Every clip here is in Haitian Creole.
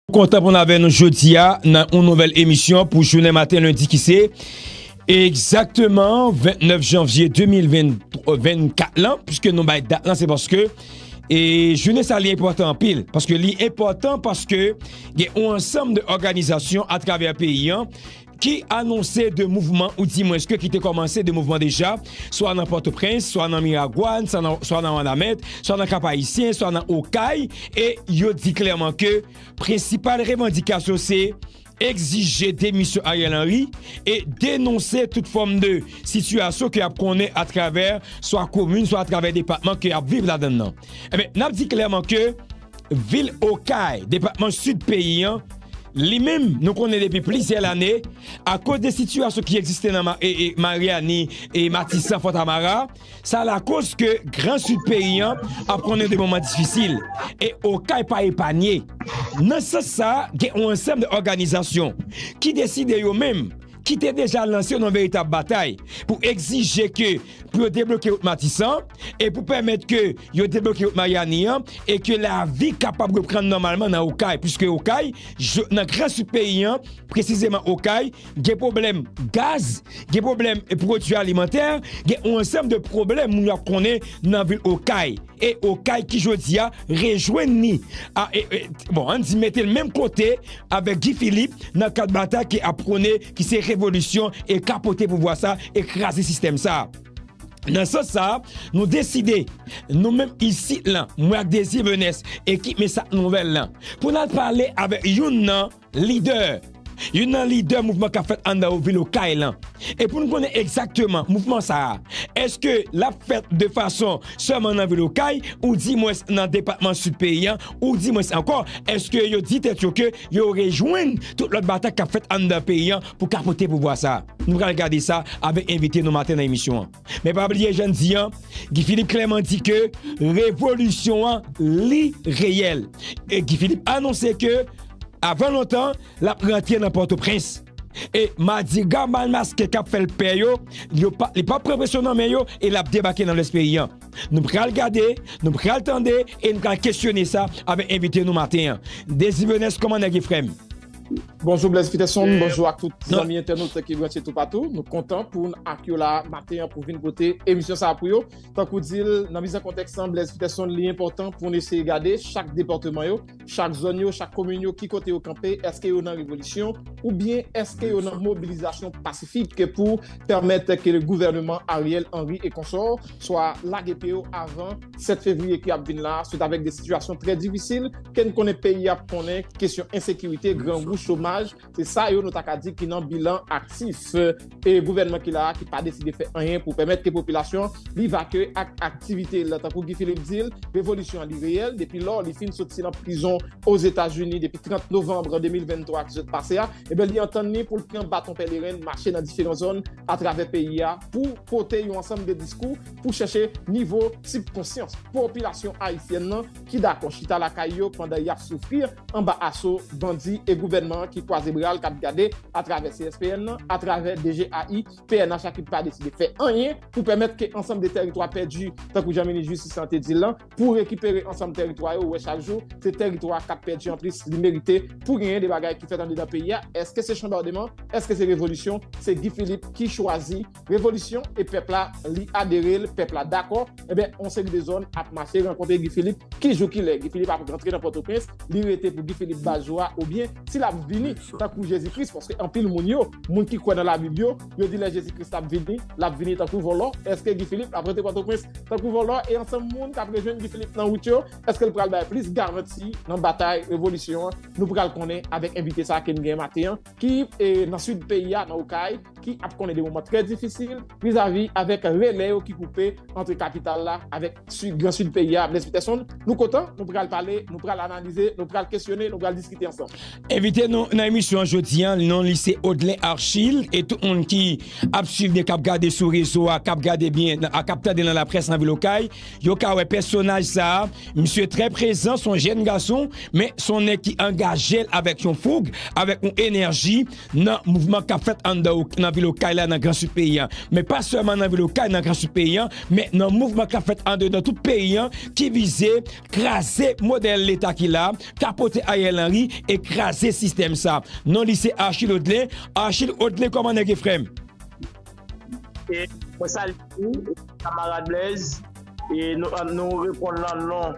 Nou kontan pou n avè nou jodi a nan yon nouvèl emisyon pou jounen maten lendi ki se egzakteman 29 janvye 2024 lan pwiske nou bay dat lan se paske e jounen sa li enpòtan anpil paske li enpòtan paske gen yon ansanm de òganizasyon atravè peyi an ki anonse 2 mouvman ou di mwens ke ki te kòmanse 2 mouvman deja, swa nan Pòtoprens, swa nan Miragwàn, swa nan Wanament, swa nan Kap Ayisyen, swa nan Okay, e yo di klèman ke prensipal revandikasyon se egzije demisyon Ariel Henry e denonse tout fòm de sitiyasyon ke yap konnen atravè swa komin, swa atravè depatman ke yap viv ladann nan. Enben, nap di klèman ke. Vil Okay, depatman Sid peyi an, li menm nou konnen depi plizyè lane, akoz de sitiyasyon ki egziste nan Maryani, Matisan, Fontamara, sa lakoz ke Gran Sid peyi an ap konnen de moman difisil. E Okay pa epanye. Nan sans sa, gen yon ansanm de òganizasyon ki deside yo menm, ki te deja lanse yon veritab batay pou egzije ke pou yo debloke wout Matisan e pou pèmèt ke yo debloke wout Maryani an e ke lavi kapab reprann nòmalman nan Okay, puiske Okay, nan gran sid peyi an, presizeman Okay, gen pwoblèm gaz, gen pwoblèm pwodui alimantè, gen yon ansanm de pwoblèm moun yo ap konnen nan vil Okay. e Okay ki jodi a rejwenn ni a e e bon ann di mete l menm kote avèk Guy Philippe nan kad batay ke ap pwone ki se revolisyon e kapote pouvwa sa e kraze sistèm sa a. Nan sans sa a, nou deside, nou menm isit lan, mwen ak Désir Menès, ekip Mesap Nouvèl lan, pou n al pale avèk youn nan. Lidè, Youn nan lidè mouvman k ap fèt anndan vil Okay lan. E pou n konnen egzakteman mouvman sa a, èske l ap fèt de fason sèlman nan vil Okay ou di mwens nan depatman Sid peyi an ou di mwens ankò èske yo di tèt yo ke yo rejwenn tout lòt batay k ap fèt anndan peyi an pou kapote pouvwa sa a? Nou pral gade sa avèk envite nou maten nan emisyon an. Men pa bliye jan di an, Guy Philippe klèman di ke revolisyon an li reyèl. E Guy Philippe anonse ke avan lontan l ap rantre nan Pòtoprens. E madiga mal maske k ap fè l pè yo, li p ap pran presyon nan men yo e l ap debake nan lès peyi an. Nou pral gade, nou pral tande e nou pral kesyone sa avèk envite nou maten an. Désir Benes kòman nèg ye frè m? Bonjou Blaise Peterson, bonjou ak tout zanmi entènote ki branche tou patou. Nou kontan pou n ak yo la maten an pou vin pote emisyon sa a pou yo. Tankou di l, nan mize kontèks lan, Blaise Peterson, li enpòtan pou n eseye gade chak depatman yo, chak zòn yo, chak komin yo, ki kote yo kanpe, èske yo nan revolisyon oubyen èske yo nan mobilizasyon pasifik pou pèmèt ke gouvèneman Ariel Henry e konsò swa lage pye yo avan 7 fevriye ki ap vin la, se avèk de sitiyasyon trè difisil, ke n konnen peyi ap konnen, kesyon ensekirite, grangou, chomaj, se sa yo nou ta ka di ki nan bilan aktif e gouvènman ki la a ki pa deside fè anyen pou pèmèt ke popilasyon li vake ak aktivite l. Tankou Guy Philippe di l, revolisyon an li reyèl depi lò li fin soti nan prizon Ozetazini depi 30 novanbre 2023 ki sot pase a, enben li antann li pou l pran baton pèleren mache nan diferan zòn atravè peyi a pou pote yon ansanm de diskou pou chèche nivo sibkonsyans popilasyon ayisyèn nan ki dakò chita lakay yo pandan y ap soufri anba aso bandi e gouvènman an ki kwaze bra l k ap gade atravè CSPN nan, atravè DGAI, pnh a ki pa deside fè anyen pou pèmèt ke ansanm de tèritwa pèdi tankou jan minis jistis lan te di l lan pou rekipere ansanm tèritwa yo wè chak jou se tèritwa k ap pèdi anplis li merite pou genyen de bagay ki fèt andedan peyi a èske se chanbardema èske se revolisyon se Guy Philippe ki chwazi revolisyon e pèp la li adere l, pèp la dakò, enben yon seri de zòn ap mache rankontre Guy Philippe, ki jou ki lè Guy Philippe ap rantre nan Pòtoprens, li rete pou Guy Philippe ba jou a oubyen si l ap vini tankou Jezi Kris, paske anpil moun yo, moun ki kwè nan labib yo, yo di lè Jezi Kris ap vini, l ap vini tankou vòlò, èske Guy Philippe ap rantre Pòtoprens tankou vòlò e ansanm moun k ap rejwenn Guy Philippe nan wout yo, èske l pral bay plis garanti nan batay revolisyon an, nou pral konnen avèk envite sa ke n genyen maten an. ki nan sid peyi a, nan Okay, ki ap konnen de moman trè difisil vizavi avèk relè yo ki koupe antre kapital la avèk gran sid peyi a, Blaise Peterson. Nou kontan, nou pral pale, nou pral analize, nou pral kesyone, nou pral diskite ansanm. Envite nou nan emisyon an jodi a, non li se Odlin Archil, e tout moun ki ap swiv ni k ap gade sou rezo a, k ap gade byen, k ap tande nan laprès nan vil Okay, Yo ka wè pèsonaj sa a, misye trè prezan, son jèn gason, men son nèg ki angaje l avèk yon foug, avèk yon enèji nan mouvman k ap fèt anndan ok, nan vil Okay la, nan gran sid peyi a. Men pa sèlman nan vil Okay, nan gran sid peyi a, men nan mouvman k ap fèt andedan tout peyi a ki vize kraze modèl leta ki la, kapote Ariel Henry e kraze sistèm sa. Non li se Achille Odelin. Achille Odelin kòman nèg ye frè m? E mwen sal di kamarad Blaise e nou repon lan non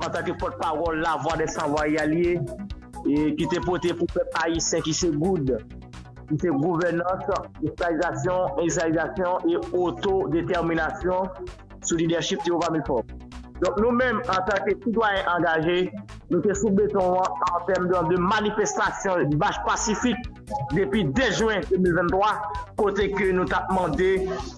an tanke pot pawol la vwa de san vwa yal ye e ki te pote pou pep a yi sen ki se goud ki se gouvenans, esklaizasyon, esklaizasyon e oto determinasyon. sou lidèchip Théova Milfort. Donk nou menm antanke sitwayen angaje, nou te sou beton an antèm dan de manifestasyon mach pasifik depi 2 jwen 2023 kote ke nou tap mande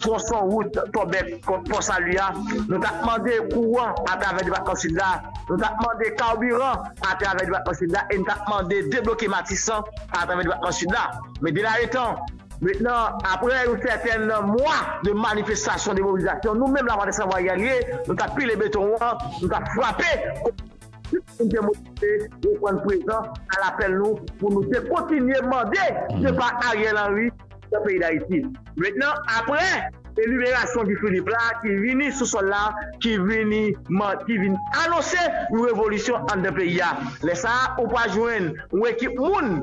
twonson wout Tòbèk kont Pò Sali a, nou tap mande kouran atravè depatman Sid la, nou tap mande kabiran atravè depatman Sid la e nou tap mande debloke Matisan atravè depatman Sid la. Men denayetan. Mentnan, aprè yon sèten nan mwa de manifestasyon, de mobilizasyon, nou menm Lavwadlac San Vwaryalye, nou t ap pile beton an, nou t ap frape kote tout moun te mobilize reprann prezan a lapèl nou pou nou te kontinye mande depa Ariel Henry nan peyi Dayiti. Mentnan, aprè. E liberasyon Guy Philippe la ki vini sou sòl la, ki vini manti, vin anonse yon revolisyon anndan peyi a. Lè sa a, ou pral jwenn yon ekip moun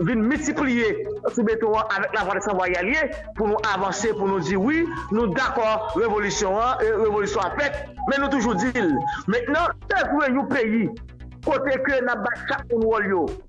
vin miltipliye sou beton an avèk lavwa de sanvwa Yalie pou nou avanse, pou nou di wi, nou dakò revolisyon an, revolisyon an fèt, men nou toujou di l, mentnan. Bezwen yon peyi kote ke n ap bay chak moun wòl yo.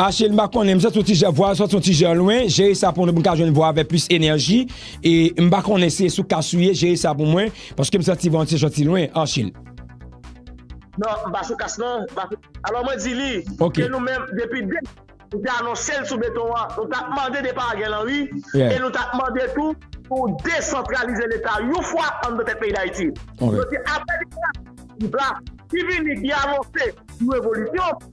Achille, m pa konnen, m santi yon ti jan vwa a santi yon ti jan lwen, jere sa pou mwen pou m ka jwenn vwa a avèk plis enèji, e m pa konnen si e sou kas ou ye, jere sa pou mwen, paske m santi vwa an ti jan ti lwen, Achille. Non, m pa sou kas non, m pa sou, alò mwen di li, ke nou menm depi de, nou te anonse l sou beton an, nou ta mande depa Ariel Henry, e nou ta mande tou pou desantralize leta yon fwa an nan tèt peyi Dayiti. Yo di apre liberasyon Ti Bla, ki vini, ki anonse yon revolisyon.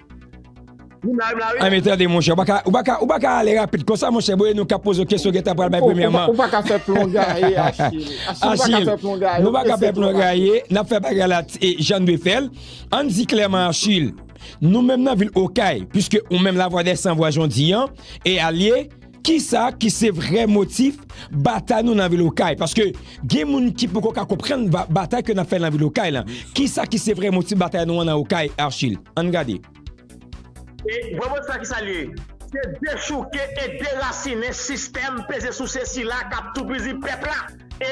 Anmey tande monchè, ou pa ka ale rapid konsa monchè boo e nou kap poze w kesyon gentan pral bay premye man. Ou pa ka fè plon gaye Achille. Achille, nou pa ka fè plon gaye, nap fè bagay la jan nou dwe fè l. Ann di klèman Achille, nou menm nan vil Okay, puiske ou menm la vwa dè san vwa Jon di an e alye, Kisa ki se vrè motif batay nou nan vil okay paske gen moun ki poko ka konprann batay ke nap fè nan vil okay lan kisa ki se vrè motif batay nou an nan okay Archil ann gade. E Bòbòt sa kisa li ye? Se dechouke e derasinen sistèm peze souse sila kap toupizi pèp la. e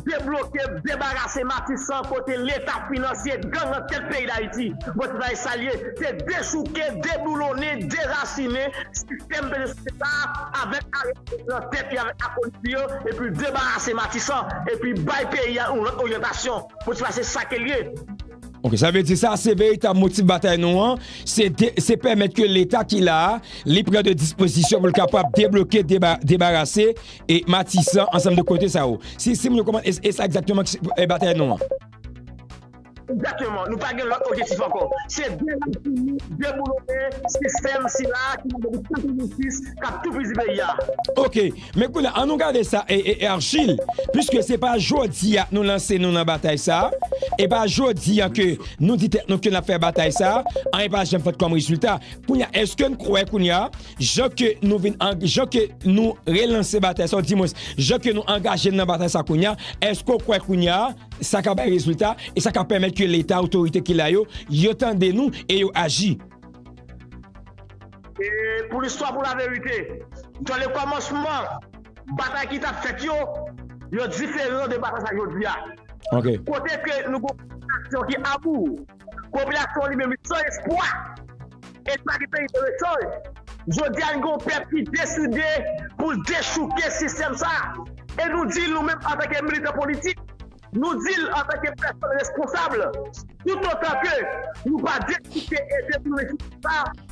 debloke, debarase Matisan kote leta finansye gang nan tèt peyi Dayiti. Bon sitwayen sa l ye, se dechouke, deboulonnen, derasinen sistèm peyi sosyete sa a avèk Aristid nan tèt li avèk akolit li yo epi debarase Matisan epi bay peyi a yon lòt oryantasyon. Bon sitwayen se sa ke l ye. Ok, sa vle di sa se veritab motif batay nou an, se pèmèt ke leta ki la a li pran de dispozisyon pou l kapab debloke, debarase E matisan ansanm de kote sa yo. Si si moun yo konprann e e sa egzakteman ki se e batay nou an. Egzakteman. Nou pa gen lòt objektif ankò. Se derasinen, deboulonnen sistèm sila a ki la depi 86 k ap toupizi peyi a. Ok. Men kounye a an nou gade sa e e Argile. Piske se pa jodi a nou lanse nou nan batay sa a. E pa jodi a ke nou di tèt nou ke n ap fè batay sa a. Anyen pa janm fèt kòm rezilta. Kounye a eske n kwè kounye a. Jan ke nou vin an, jan ke nou relanse batay sa, di mwens, jan ke nou angaje n nan batay sa kounye a, èske w kwè kounye a, sa ka bay rezilta, e sa ka pèmèt ke Leta, otorite ki la yo, yo tande nou e yo aji? E pou listwa, pou laverite, jan le kòmansman batay ki tap fèt yo, yo diferan de batay sa jodi a. Ok. Kote ke nou gen yon popilasyon ki abou. Popilasyon an li menm li san espwa e li pa gen peyi pou l echanj. Jodi a n gen yon pèp ki deside pou l dechouke sistèm sa a e nou di l nou menm antanke militan politik, nou di l antanke pèsòn responsab, toutotan ke nou pa dechouke e detounen sistèm sa a,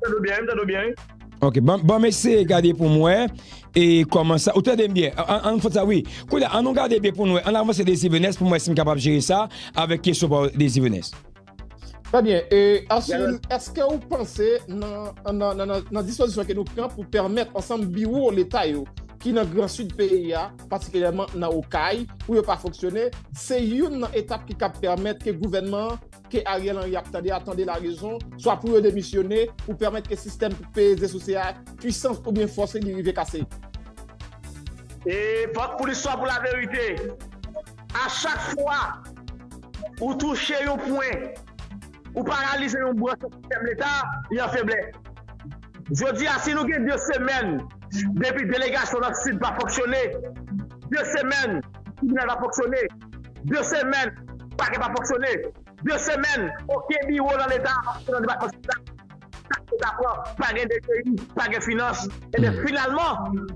Tande byen, m tande byen. Ok, bon m eseye gade pou m wè e kòman sa, ou tande m byen? An fòt sa wi. Koulye a, an nou gade byen pou nou wè, an avanse Désir Venès pou m wè si m kapab jere sa avèk kesyon pa w Désir Venès. Trè byen, e Archil, èske ou panse nan dispozisyon ke nou pran pou pèmèt ansanm biwo leta yo ki nan gran sid peyi a, patikilyèman nan Okay, pou yo pa fonksyone, se youn nan etap ki kab pèmèt ke gouvènman an ke Ariel Henry ap tande a tande larezon, swa pou yo demisyone, pou pèmèt ke sistèm peye ze sou se a, pwisans oubyen fòs li rive kase. E vòt pou listwa pou laverite. A chak fwa ou touche yon pwen, ou paralize yon branch nan sistèm leta, li an feblès. Jodi a, si nou gen 2 semèn depi delegasyon nan Sid pa fonksyone, 2 semèn tribinal pa fonksyone, 2 semèn pakè pa fonksyone, 2 semèn oken biwo lan leta pa fonksyone lan depatman sila, sak pou ta pran pa gen dpi, pa gen finans, enben finalman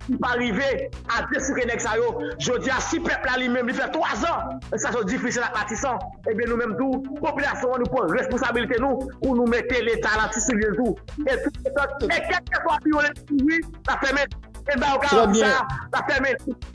li pa rive a desouke nèg sa yo, jodi a si pèp la li menm li fè 3 zan sitiyasyon difisil ak Matisan, enben nou menm tou popilasyon an nou pran responsabilite nou pou nou mete leta lan ti soulye l tou e tout otan e kèlkeswa biwo leta louvri l ap fèmen, e n ba yo garanti sa l ap fèmen.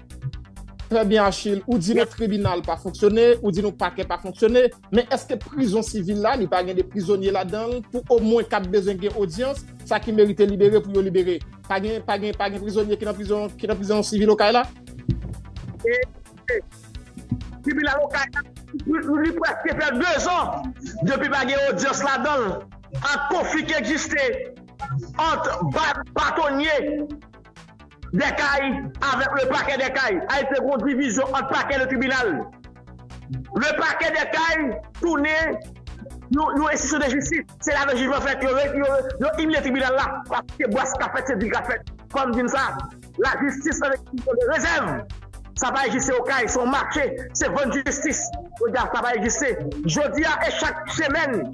Trè byen Achil, ou di nou tribinal pa fonksyone, ou di nou pakè pa fonksyone, men eske prizon sivil la li pa gen de prizonye ladanl pou omwen kap bezwen gen odyans, sa ki merite libere pou yo libere? Pa gen pa gen pa gen prizonye ki nan prizon ki nan prizon sivil okay la? Tribinal okay la li preske fè 2 zan depi pa gen odyans ladanl ak konfli ki egziste ant batonye. Dèkay, avèk le Pakè Dèkay, ay te gon divizyon ant Pakè le Tribinal. Le Pakè Dèkay tounen yon enstitisyon de jistis, se la men jijman fèt, yo imilye Tribinal la, paske bwàs ka fèt, se di ka fèt. Fò m di n sa, la jistis an enstitisyon de rezèv, sa pa egziste Okay, se yon mache, se vann jistis, jodya sa pa egziste. Jodya e chak semèn.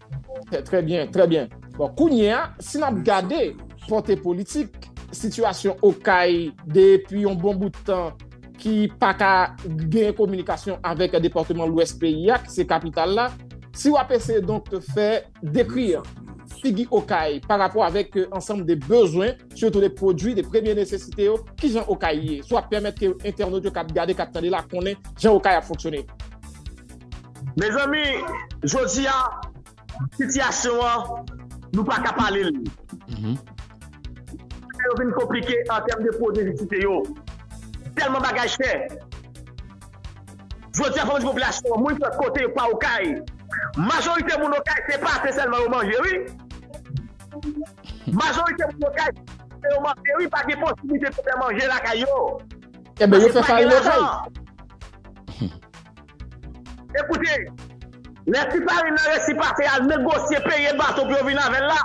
Trè byen, trè byen. Bon, kounye a, si n ap gade pòte politik sitiyasyon Okay depi yon bon bout tan ki pa ka gen kominikasyon avèk depatman Lwès peyi a ki se kapital la, si w ap eseye donk fè dekri figi Okay pa rapò avèk ansanm de bezwen, sitou de pwodui de premye nesesite yo, ki jan Okay ye? Si w ap pèmèt ke entènot yo k ap gade, k ap tande la konnen jan Okay ap fonksyone. Mezanmi jodi a sitiyasyon an nou pa ka pale l. Bagay yo vin konplike an tèm de pwodwi nesesite yo. Tèlman bagay chè. Jodi a fò nou di popilasyon an, moun ki lòt kote yo pa Okay. Majorite moun Okay se pate sèlman yo manje wi. Majorite moun Okay se pate yo manje wi pa gen posiblite pou yo fè manje lakay yo. Paske pa gen lajan. Ekoute, lè ti farin nan resi pase al negosye peye bato pou yo vin avè l la,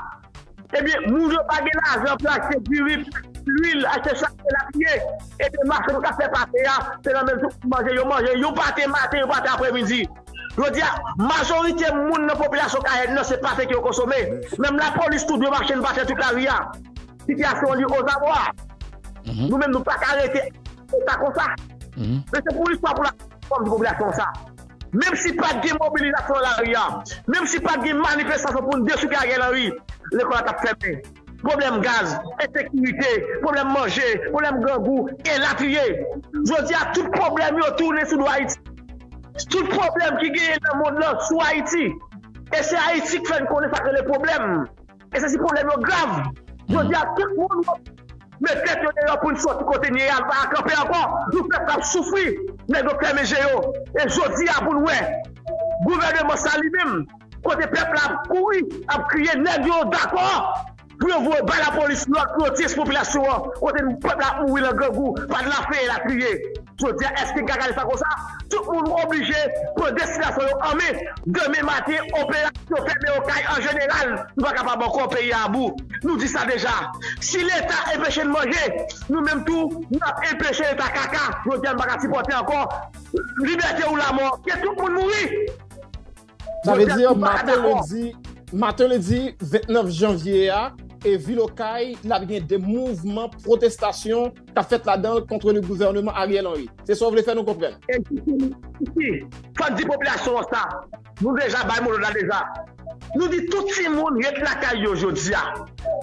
ebyen moun yo pa gen lajan pou yo achte diri, lwil, achte chak el abiye, ebyen machann k ap fè pate a, se nan menm jou pou manje, yo manje yon pate maten, yon pate apremidi. Jodi a, majorite moun nan popilasyon Cayenne nan se pate ke yo konsome. Menm lapolis tou dwe mache nan pate tout lari a. Sitiyasyon an li ozabwa. Nou menm nou pa ka rete. Pou sa konsa. Men se pou istwa pou lakay nou fòm di popilasyon sa. Menm si pat gen mobilizasyon nan lari a, menm si pat gen manifestasyon pou n dechouke Ariel Henry, lekòl la t ap fèmen. Pwoblèm gaz, ensekirite, pwoblèm manje, pwoblèm grangou, elatriye. Jodi a tout pwoblèm yo tounen sou do Ayiti. Tout pwoblèm ki genyen nan mond lan sou Ayiti. E se Ayiti k fè n konnen sa k rele pwoblèm. E se si pwoblèm yo grav. Jodi a tout moun met tèt yo deyò pou n soti kote n ye a, n pa ka kanpe ankò. Nou pèp la ap soufri, nèg yo fèmen je yo. E jodi a pou n wè gouvèneman sa li menm, kote pèp la ap kouri, ap kriye nèg yo dakò pou yo voye bay lapolis lòd pou yo ti espopilasyon an kote pèp la ap mouri lan grangou, pa de lafen elatriye. Jodia eske gagale sa konsa tout moun oblije pran destinasyon yo an men demen maten operasyon fèmen yon kay an jeneral nou pa kapab ankò peyi a abou nou di sa deja si leta enpeche n manje nou menm tou nap enpeche leta kaka jodia nou paka sipòte ankò libète ou lamò ke tout moun mouri. Sa vle di, maten lendi, maten lendi 29 janvye a, e vil Okay la gen de mouvman protestasyon ka fèt la dan kontre le gouvèneman Ariel Henry. Se sa w vle fè nou konprann? Ekzatteman. Si, fòk di popilasyon an sa. Nou deja bay mo lòd la deja. Nou di tout timoun ret lakay yo jodi a.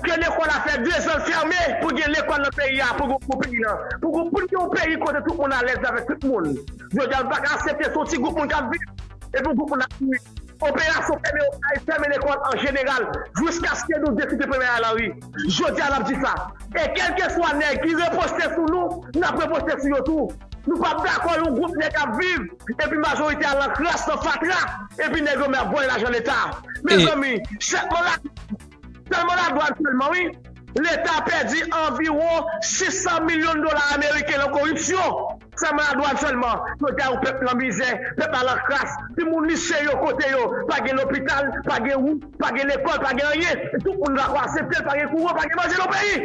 Ke lekòl la fè 2 zan l fèmen pou gen lekòl nan peyi a, pou gen pou peyi nan, pou gen yon peyi kote tout moun alèz avèk tout moun. Jodi a nou pa ka asepte se yon ti gwoup moun k ap viv. Epi yon gwoup moun ap mouri. Operasyon fèmen okay, fèmen lekòl an jeneral jouskaske nou deside fèmen la Lari. Jodi a n ap di sa. E kèlkeswa nèg ki reposte sou nou, n ap reposte sou yo tou. Nou p ap dakò yon gwoup nèg ap viv epi majorite a lan kras, lan fatra, epi nèg yo men ap vòlè lajan leta. Mezanmi, sèlman sèlman ladwann sèlman wi, leta pèdi anviwon 600 milyon dola ameriken lan koripsyon. Fè mwen a dwàn sèlman. Jodi a yon pèp lan mizè, pèp la lan kras, ti moun lise yo kote yo, pa gen lopital, pa gen wout, pa gen lekòl, pa gen anyen, tout moun va ko asepte l, pa gen kouran, pa gen manje nan peyi.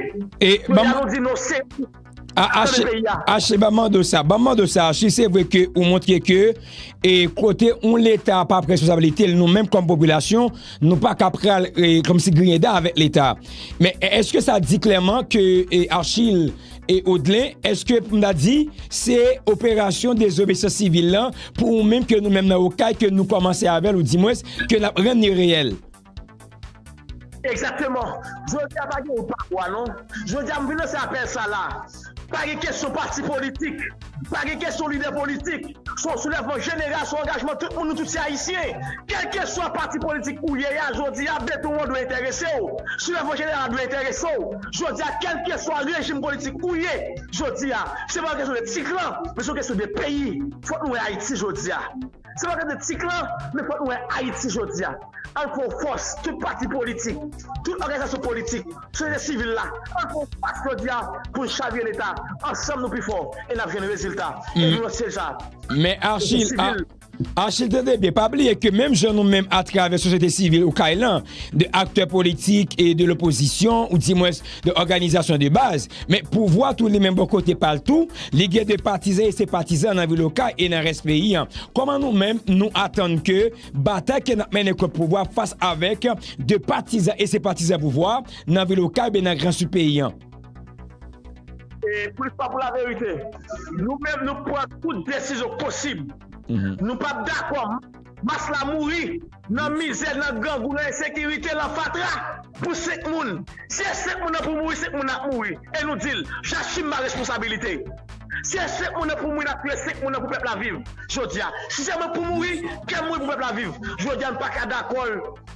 Jodi a nou di non se nou kap tande peyi a. Achi banm mande w sa, banm mande w sa Achi se vre ke ou montre ke e kote yon leta pa pran responsabilite l nou menm kòm popilasyon nou pa ka pral kòmsi griyen dan avèk leta men eske sa di klèman ke Achi E Odlin, eske pou m ta di, se operasyon dezobeysans sivil lan pou ou menm ke nou menm nan Okay ke nou kòmanse avè l ou di mwens ke n ap rann li reyèl? Egzakteman. Jodi a pa gen ou pa ou a non. Jodi a m vin lanse apèl sa la. Pa gen kesyon pati politik. Pa gen kesyon lidè politik, se yon soulèvman jeneral, se yon angajman tout moun, nou tout se Ayisyen. Kèlkeswa pati politik ou ye a, jodi a beton an dwe enterese w, soulèvman jeneral la dwe enterese w. Jodi a kèlkeswa rejim politik ou ye jodi a, se pa yon kesyon de ti klan, men se yon kesyon de peyi. Fòk nou wè Ayiti jodi a. Se pa gade ti klan men fòk nou wè Ayiti jodi a. Ann fè yon fòs, tout pati politik, tout òganizasyon politik, sosyete sivil la, ann fè yon fòs jodi a pou n chavire Leta. Ansanm nou pi fò e n ap jwenn rezilta. E nou nan syèj la. Men Achil, tande byen, pa bliye ke menm jan nou menm atravè sosyete sivil ou kay lan, de aktè politik e de lopozisyon, ou di mwens, de òganizasyon de baz, men pouvwa tou li menm bò kote pa l tou, li gen de patizan e senpatizan nan vil Okay e nan rès peyi an. Kòman nou menm nou atann ke batay ke n ap mennen kont pouvwa fas avèk de patizan e senpatizan pouvwa nan vil Okay oubyen nan gran Sid peyi an? E pou listwa pou laverite, nou menm nou pran tout desizyon posib. Nou pa p dakò menm Mas la mouri nan mizè, nan grangou, nan ensekirite, lan fatra pou 5 moun. Si e 5 moun nan pou mouri, 5 moun nan ap mouri. E nou di l, J'assume ma responsabilité. Si e 5 moun nan pou mouri, n ap touye 5 moun nan pou pèp la viv jodi a. Si se mwen pou mouri, ke m mouri pou pèp la viv. Jodi a nou pa ka dakò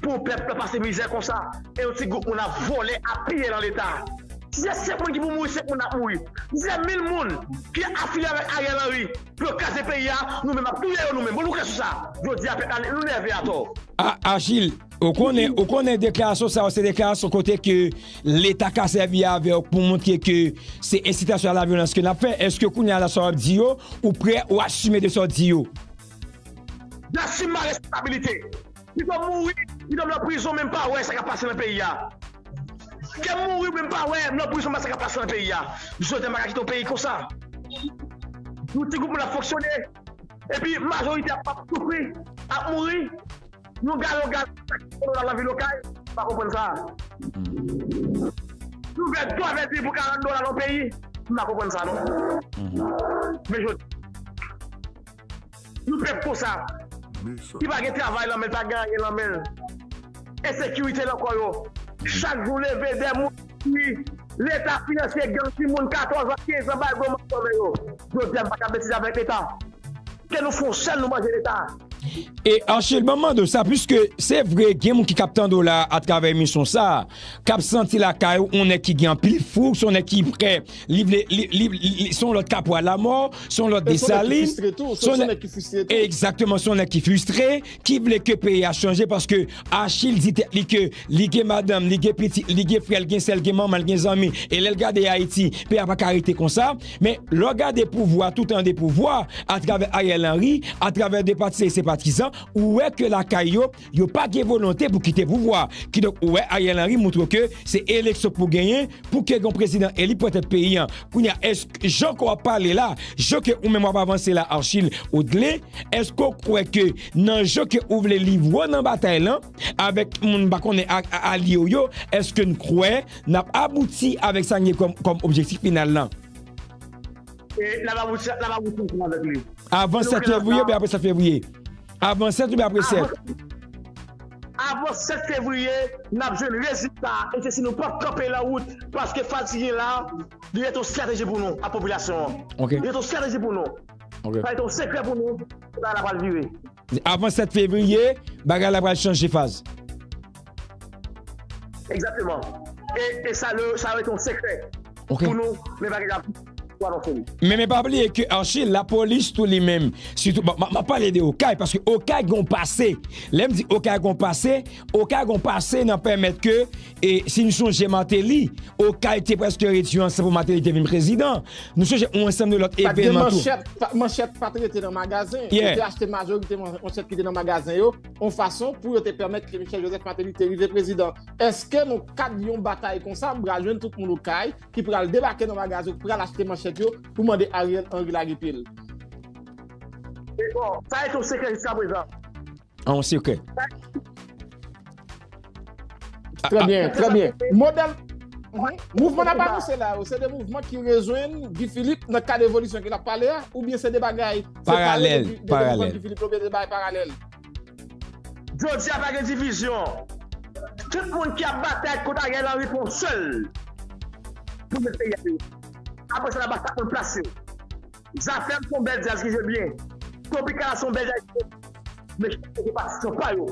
pou pèp la pase mizè konsa e yon ti gwoup moun ap vòlè, ap piye lan leta. Si se 5 moun ki pou mouri, 5 moun nan ap mouri. Si se 1000 moun ki afilye avèk Ariel Henry, Pou yo kraze peyi a nou menm ap touye yo nou menm bon nou klè sou sa jodi a pèp la nou nève atò. Agil ou konnen ou konnen deklarasyon sa yo se deklarasyon kote ke leta ka sèvi avèw pou montre ke se ensitasyon a la vyolans ke nap fè eske kounye a la sa wap di yo ou prè ou asime de sa w di yo. N asime a responsabilite. Pito m mouri, pito m nan prizon men m pa wè sa k ap pase nan peyi a. Ke m mouri men m pa wè m nan prizon m pa wè sa k ap pase nan peyi a. Jodha m pa ka kite yon peyi konsa. Yon ti gwoup moun ap fonksyone epi majorite a ap soufri, ap mouri. Yon galon gaz ki soti nan dola nan vil Okay, m pa konprann sa. Yon vè dlo avè di pou 40 dola nan yon peyi, m pa konprann sa non. Men Jodha. Yon pèp konsa, ki pa gen travay lan men l, pa gen anyen lan men l, ensekirite lan kò yo, chak jou leve 2 moun mouri, leta finanse gang ti moun 14 an, 15 an bay gwo manch lan men yo. Jodi a nou pa ka betize avèk leta. Ke nou fè yon chèn nou manje leta. E Archil banm mande w sa piske se vre gen moun ki kap tande w la atravè emisyon sa kap santi lakay ou on nèg ki gen anpil foug son nèg ki prè Li vle, li, li, li, son lòt Kapwa Lamò, son lòt Desalin, son nèg ki fristre tou, egzakteman, son nèg ki fristre, ki vle ke peyi a chanje paske Achil di tèt li ke li gen madanm, li gen pitit, li gen frè, li gen sè, li gen manman, li gen zanmi, e lè l gade Ayiti, peyi a pa ka rete konsa, men lè w gade pouvwa, tout an 2 pouvwa, atravè Ariel Henry, atravè 2 pati se se patizan, ou wè ke lakay yo, Yo pa gen volonte pou kite pouvwa. Kidonk ou wè Ariel Henry moutre ke se eleksyon pou genyen pou ke gen yon prezidan eli pran tèt peyi an. Kounye a èsk jan ke w ap pale la, jan ke ou menm w ap avanse la Archil Odelin, èske w kwè ke nan jan ke ou vle livre w nan batay lan avèk moun m pa konnen alye w yo, èske n kwè n ap abouti avèk sa n gen kòm objektif final lan? E n ap abouti ansanm avèk li. Avan 7 fevriye oubyen apre 7 fevriye? Avan 7 oubyen apre 7? Avan 7 fevriye nap jwenn rezilta e se si nou pap kanpe lan wout paske fatigin la li ret yon strateji pou nou ak popilasyon an. Li ret yon strateji pou nou. Sa ret yon sekrè pou nou, bagay la pral vire. Avan 7 fevriye, bagay la pral chanje faz. Exactement e sa le sa ret yon sekrè pou nou men pa gen ka pou anonse li. Men men pa bliye ke Archie la polis tou li menm sitou map pale de okay paske okay gen yon pase lèm di okay gen yon pase okay gen yon pase nan pèmèt ke e si nou sonje Martelly okay te preske redi ansan pou Martelly te vin prezidan nou sonje yon ansanm de lòt evenman tou. Pat gen manchèt manchèt pat rete nan magazen yeah ou te achte majoriteman manchèt ki te nan magazen yo. yon fason pou yo te pèmèt ke Michel Joseph Martelly te rive prezidan. Eske nan kad yon batay konsa, m pral jwenn tout moun okay ki pral debake nan magazin yo, ki pral achte manchèt yo pou mande Ariel Henry lage pye l? E bon, sa ret yon sekrè jiskaprezan. An yon sekrè. Trè ah, byen, trè byen. Modèl, mouvman nan pale se la yo, se de mouvman ki rezwen Guy Philippe nan kade evolisyon ki la pale a, ou byen se de bagay, se pale de mouvman Guy Philippe, ou byen se de bagay paralèl. Jodi a pa gen divizyon, tout moun ki ap batay kont a gen lan ripon sèl, pou mwen se yè yo. Apo se la ba sa kon plase yo. Zafèm son bèl djaz ki jwe byen. Tropicana son bèl djaz ki jwe byen. Men chak moun gen patisyon pa yo.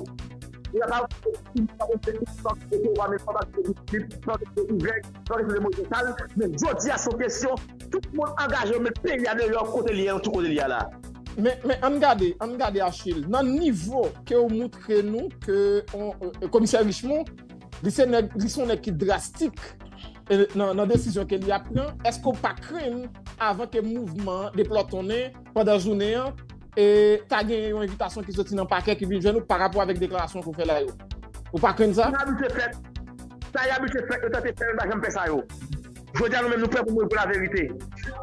Ou ka pa renmen King Poul pa konn jwe King Funk e pi ou pa menm pa patisipe King Philippe, pa patisipe King Greg, pa patisipe Moïse Charles. Men jodi a son kesyon tout moun angaje yo met peyi a deyò kote li ye lan tout kote li ye a la. Men ann gade, ann gade Achille, nan nivo ke ou moutre nou ke Komisè Richemond li se nèg, li son nèg ki drastik. nan desizyon ke li ap pran, eske ou pa krenn avan ke mouvman an deplòtonnen pandan jounen an e ta genyen yon evitasyon ki soti nan pakè ki vin jwenn ou pa rapò avèk deklarasyon ke ou fè la yo? Ou pa krenn sa? Sa yo abitye fè, sa yo abitye fè, yo tante fè yo, yo pa janm fè sa yo. Jodi a nou menm nou prè pou mouri pou laverite.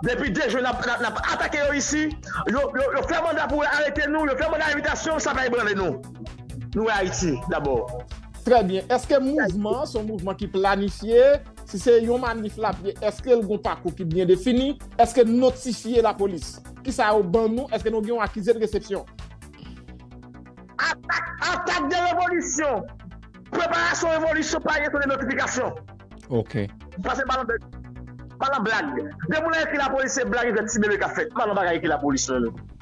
Depi 2 jou n ap atake yo isi, yo fè manda pou arete nou, yo fè manda evitasyon, sa pa ebranle nou. Nou wè Ayiti dabò. Trè byen, eske mouvman an son mouvman ki planifye? Si se yon manif l ap ye, eske l gon pakou ki byen defini? Eske n notifye lapolis? Ki sa yo ban nou? Eske nou gen yon akize de resepsyon? Atak Atak de revolisyon Preparasyon revolisyon pa gen ton de notifikasyon. Ok. Pase pa lan bèk Pa lan blag Depi w nan ekri lapolis se blag e vèt tibebe k ap fèt Pa lan bagay ekri lapolis non.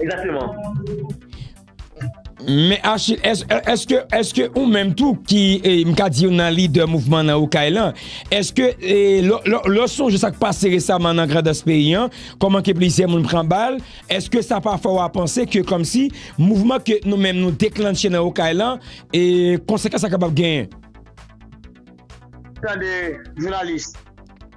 Exactement. Men Achil, eske ou menm tou ki e, mka di yon nan lidè mouvman nan Okay lan, eske e, lò sonje sak pase resaman nan grandans peyi an, kòman ke plizyè moun pran bal, eske sa pa fè w a panse ke kòmsi mouvman ke nou menm nou deklannche nan Okay lan, e konsekans sa kapab genyen? Tande, jounalis.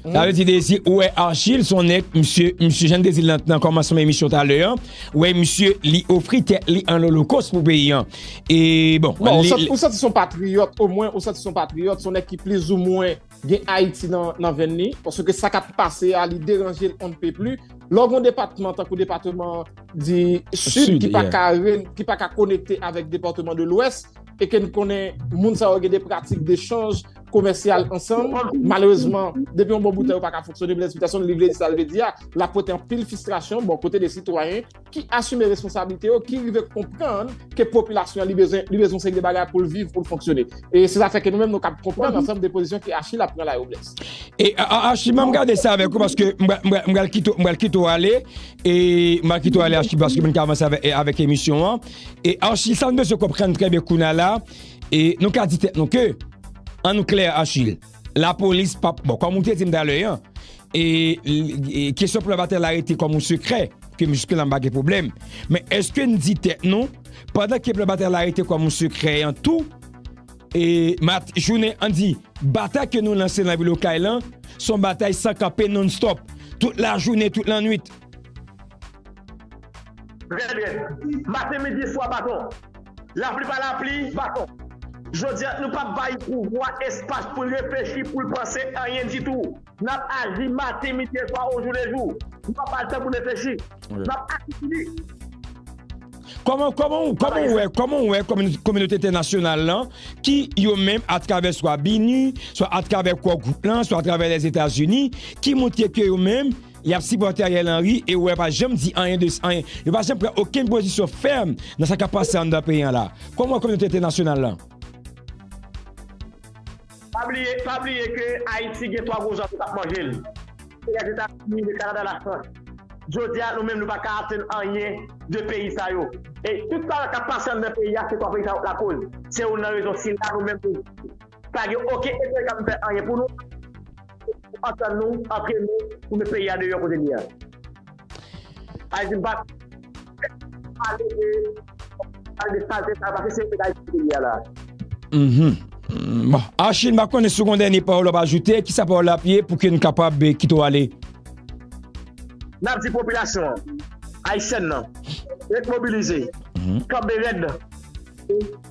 Sa vle di dezi ou wè Archil son nèg misye misye jan dezi lan nan kòmansman emisyon talè an ou wè misye li ofri tèt li an olokos pou peyi an e bon non ou santi son patriyòt omwen ou santi son patriyòt son nèg ki pliz ou mwen gen Ayiti nan venn li paske sa kap pase a li deranje l on ne peut plus lè w gon depatman tankou depatman di sid ki pa ka ki pa ka konekte avèk depatman de lwès e ke n konnen moun sa yo gen de pratik de chanj komèsyal ansanm, malerezman, depi yon bon boutè yo pa ka foksyone, Blaise Peterson li vle di sa l vle di a, la pote an pil fistrasyon bon kote de sitwayen ki asime responsabilite yo, ki rive konprann ke popilasyon li bezon li bezon seri de bagay pou l viv, pou l foksyone. E se zafè ke nou menm nou kab konprann ansanm de pozisyon ke Achille ap pran la yo Blaise. E Achille mwen gade sa avèk ou paske mwen pral kite ou mwen pral kite ou ale e mwen pral kite ou ale Achille paske mwen ka avanse avèk emisyon an e Achille sa nou bezwen konprann trè byen kounye a la E nou ka di tèt nou ke, an nou klè Achille, lapolis pa, bon kòm ou te di m talè an, e kesyon plan batay la rete kòm yon sekrè, ke m jiske la m pa gen pwoblèm, men èske n di tèt nou, pandan ke plan batay la rete kòm yon sekrè an tou, e mat jounen an di, batay ke nou lanse nan vil Okay lan, se yon batay san kanpe non stop, tout la jounen, tout la nwit. Trè byen. Maten, midi, swa, baton. Lapli pa lapli, baton. Jodi a, nou pap bay pouvwa espas pou l reflechi, pou l panse anyen ditou. N ap aji maten, midi e swa ojoulejou. Nou pa ba l tan pou l reflechi. N ap aji pou li. Kòman, kòman ou, kòman ou wè, kòman ou wè kominote entènasyonal lan ki yo menm atravè swa BINUH, swa atravè Core Group lan, swa atravè Lèzetazini ki montre ke yo menm. Yap sipòte Ariel Henry e ou wè pa janm di anyen de anyen. Yo pa janm pran okenn pozisyon fèm nan sa kap pase anndan peyi an la. Kòm wè kominote entènasyonal lan? Pa bliye, pa bliye ke Ayiti gen 3 gwo zòt yo kap manje l. Se Lèzetazini, Le Kanada, La Frans. Jodi a nou menm nou pa ka atenn anyen de peyi sa yo. E tout sa kap pase anndan peyi a se 3 peyi sa yo k lakoz. Se youn nan rezon sila nou menm nou. Pa gen oken etranje kap vin fè anyen pou nou, se pou nou antann nou antre nou pou met peyi a deyò kote li a. Ayiti m pa pale de pale de salte sa yo paske se etat Ayiti peyi a la. Bon Archi m pa konnen si w gon dènye pawòl wap ajoute, kisa pawòl la ap ye pou ke n kapab kite w ale? Nap di popilasyon an, ayisyèn nan, ret mobilize, kanbe rèd pou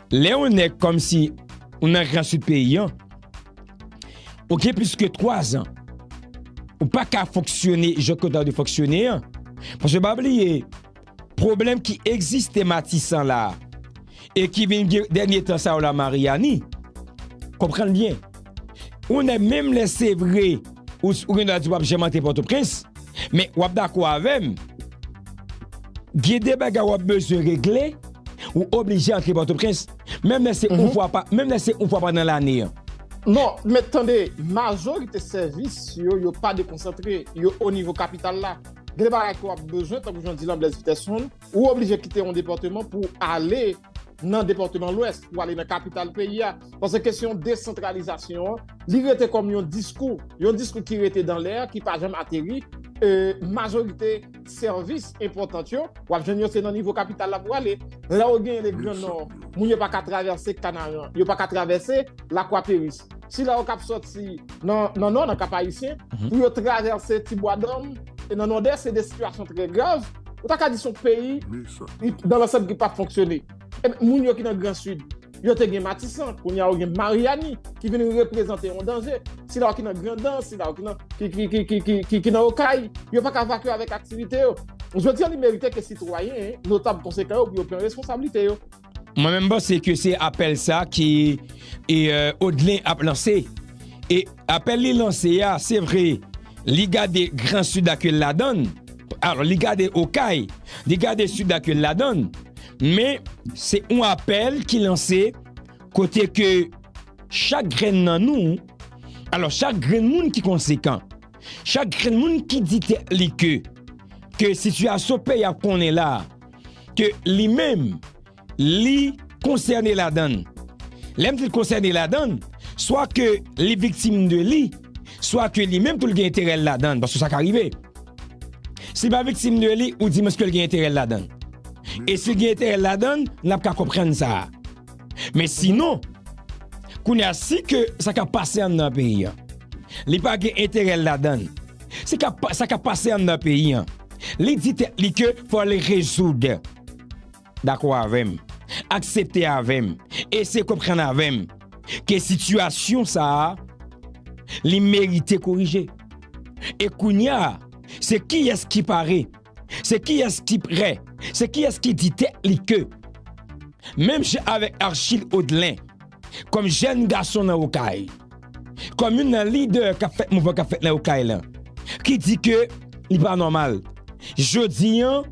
Lè yon nèg kòmsi ou nan gran sid peyi an, ou gen plis ke 3 zan, ou pa ka fonksyone jan ke w ta dwe fonksyone an. Paske pa bliye, pwoblèm ki egziste Matisan la e ki vin gen dènye tan sa yo la Maryani, konprann byen. Ou nè menm lè se vre ou gen dwa di wap janm antre Pòtoprens, men wap dakò avè m, gen de bagay wap bezwen regle, ou oblije antre Pòtoprens, menm lè se yon fwa pa, menm lè se yon fwa pa nan lane an. Non, men tande, majorite sèvis yo, yo pa dekonsantre, yo o nivo kapital la. Gen de bagay ke wap bezwen, tankou jan w di lan Blaise Peterson, Ou oblije kite yon depatman pou ale nan depatman lwès, pou ale nan kapital peyi a. Pase kesyon desantralizasyon an, li rete kòm yon diskou, yon diskou ki rete dan lè, ki pa janm ateri. Majorite sèvis enpòtant yo, w ap jwenn yo se nan nivo kapital la pou ale. Lè ou gen le gran nò, moun yo pa ka travèse kanaran, yo pa ka travèse lakwaperis. Sila yo k ap soti nan nò, nan Kapayisyen, pou yo travèse Ti Bwa Dòm, e nan Nòdès, se de sitiyasyon trè grav. Ou ta ka di se yon peyi, dan lansanm, ki pa ap fonksyone. Moun yo ki nan Gran Sid, yo te gen Matisan, kounye a yo gen Maryani, ki vin reprezante yon danje. Sila yo ki nan Grandans, sila yo ki nan Okay, yo pa ka vakye avèk aktivite yo. Jodi a, li merite ke sitwayen, notab konsekan yo, pou yo pran responsablite yo. Mwen menm panse ke se apèl sa ki Odelin ap lanse. E apèl li lanse a, se vre, li gade gran Sid la ke l ladan l, alò li gade Okay, li gade Sid la ke l ladan l, men se yon apèl ki lanse kote ke chak grenn nan nou, alò chak grenn moun ki konsekan, chak grenn moun ki di tèt li ke ke sitiyasyon peyi a konnen la a, ke li menm li konsène ladan l. Lè m di l konsène ladan l, swa ke li viktim de li, swa ke li menm tou l gen enterè l ladan l, paske sa ka rive. Si l pa viktim de li, ou di m èske l gen enterè l ladan l. E si l gen enterè l ladan l, n ap ka konprann sa a. Men sinon, kounye a si ke sa kap pase an nan peyi an, li pa gen enterè l ladan l, si sa kap pase an nan peyi an, li di tèt li ke fò l rezoud, dakò avè m, aksepte avè m, eseye konprann avè m, ke sitiyasyon sa a, li merite korije. E kounye a, se kiyès ki pare? Se kiyès ki prè, se kiyès ki di tèt li ke, menm jan avèk Archil Odelin, kòm jèn gason nan Okay, kòm youn nan lidè k ap fè mouvman k ap fèt nan Okay lan, ki di ke li pa nòmal. Jodi an,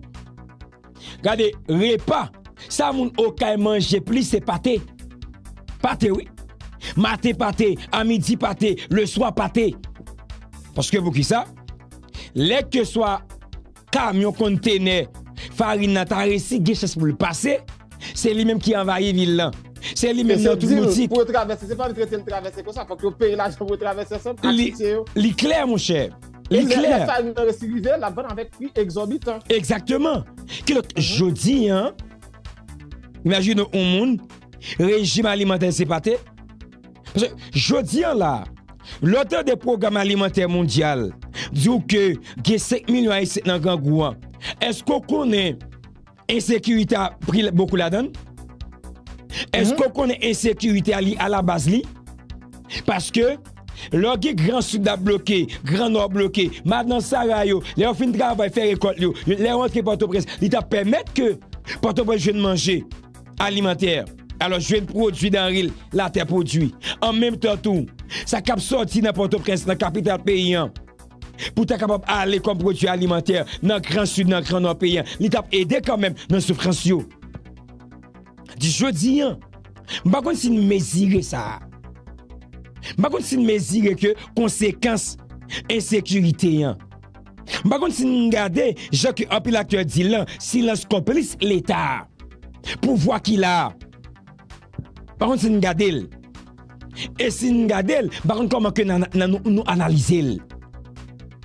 gade repa, sa moun Okay manje plis se pate. Pate wi. Maten pate, a midi pate, le swa pate. Paske pou kisa? Lè ke swa kamyon konntenè farin nan ta resi gen chans pou l pase, se li menm ki anvayi vil lan. Se li menm nan tout boutik. E se di l pou yo travèse, se pa vin rete l travèse konsa, fòk yo peye lajan pou yo travèse ansanm ak sitye yo. Li klè monchè, li klè. E lè farin nan resi rive, l ap vann avèk pri egzòbitan. Egzakteman. Kidonk, jodi an, imajine yon moun, rejim alimantè l se pate. Paske jodi an la, lè w tande pwogram alimantè mondyal di w ke gen 5 milyon ayisyen k nan grangou an, èske w konnen ensekirite a pri bokou ladan l? Èske w konnen ensekirite a li alabaz li? Paske lè w gen gran sid ap bloke, gran nò bloke, madan sara yo, lè yo fin travay fè rekòlt yo, lè yo rantre pòtoprens, li ta pèmèt ke pòtoprens jwenn manje. alimantè. Alò jwenn pwodui danre latè pwodui. An menm tan tou, sa k ap sòti nan Pòtoprens, nan kapital peyi an, pou ta kapab ale kòm pwodui alimantè nan gran Sid, nan gran Nò peyi an, li t ap ede kanmenm nan soufrans yo. Jis jodi an, m pa konn si n mezire sa. M pa konn si n mezire ke konsekans ensekirite an. M pa konn si n gade jan ke anpil aktè di l lan, silans konplis leta a. Pouvwa ki la a. M pa konn si n gade l. E si n gade l, m pa konn kòman ke nan nou analize l.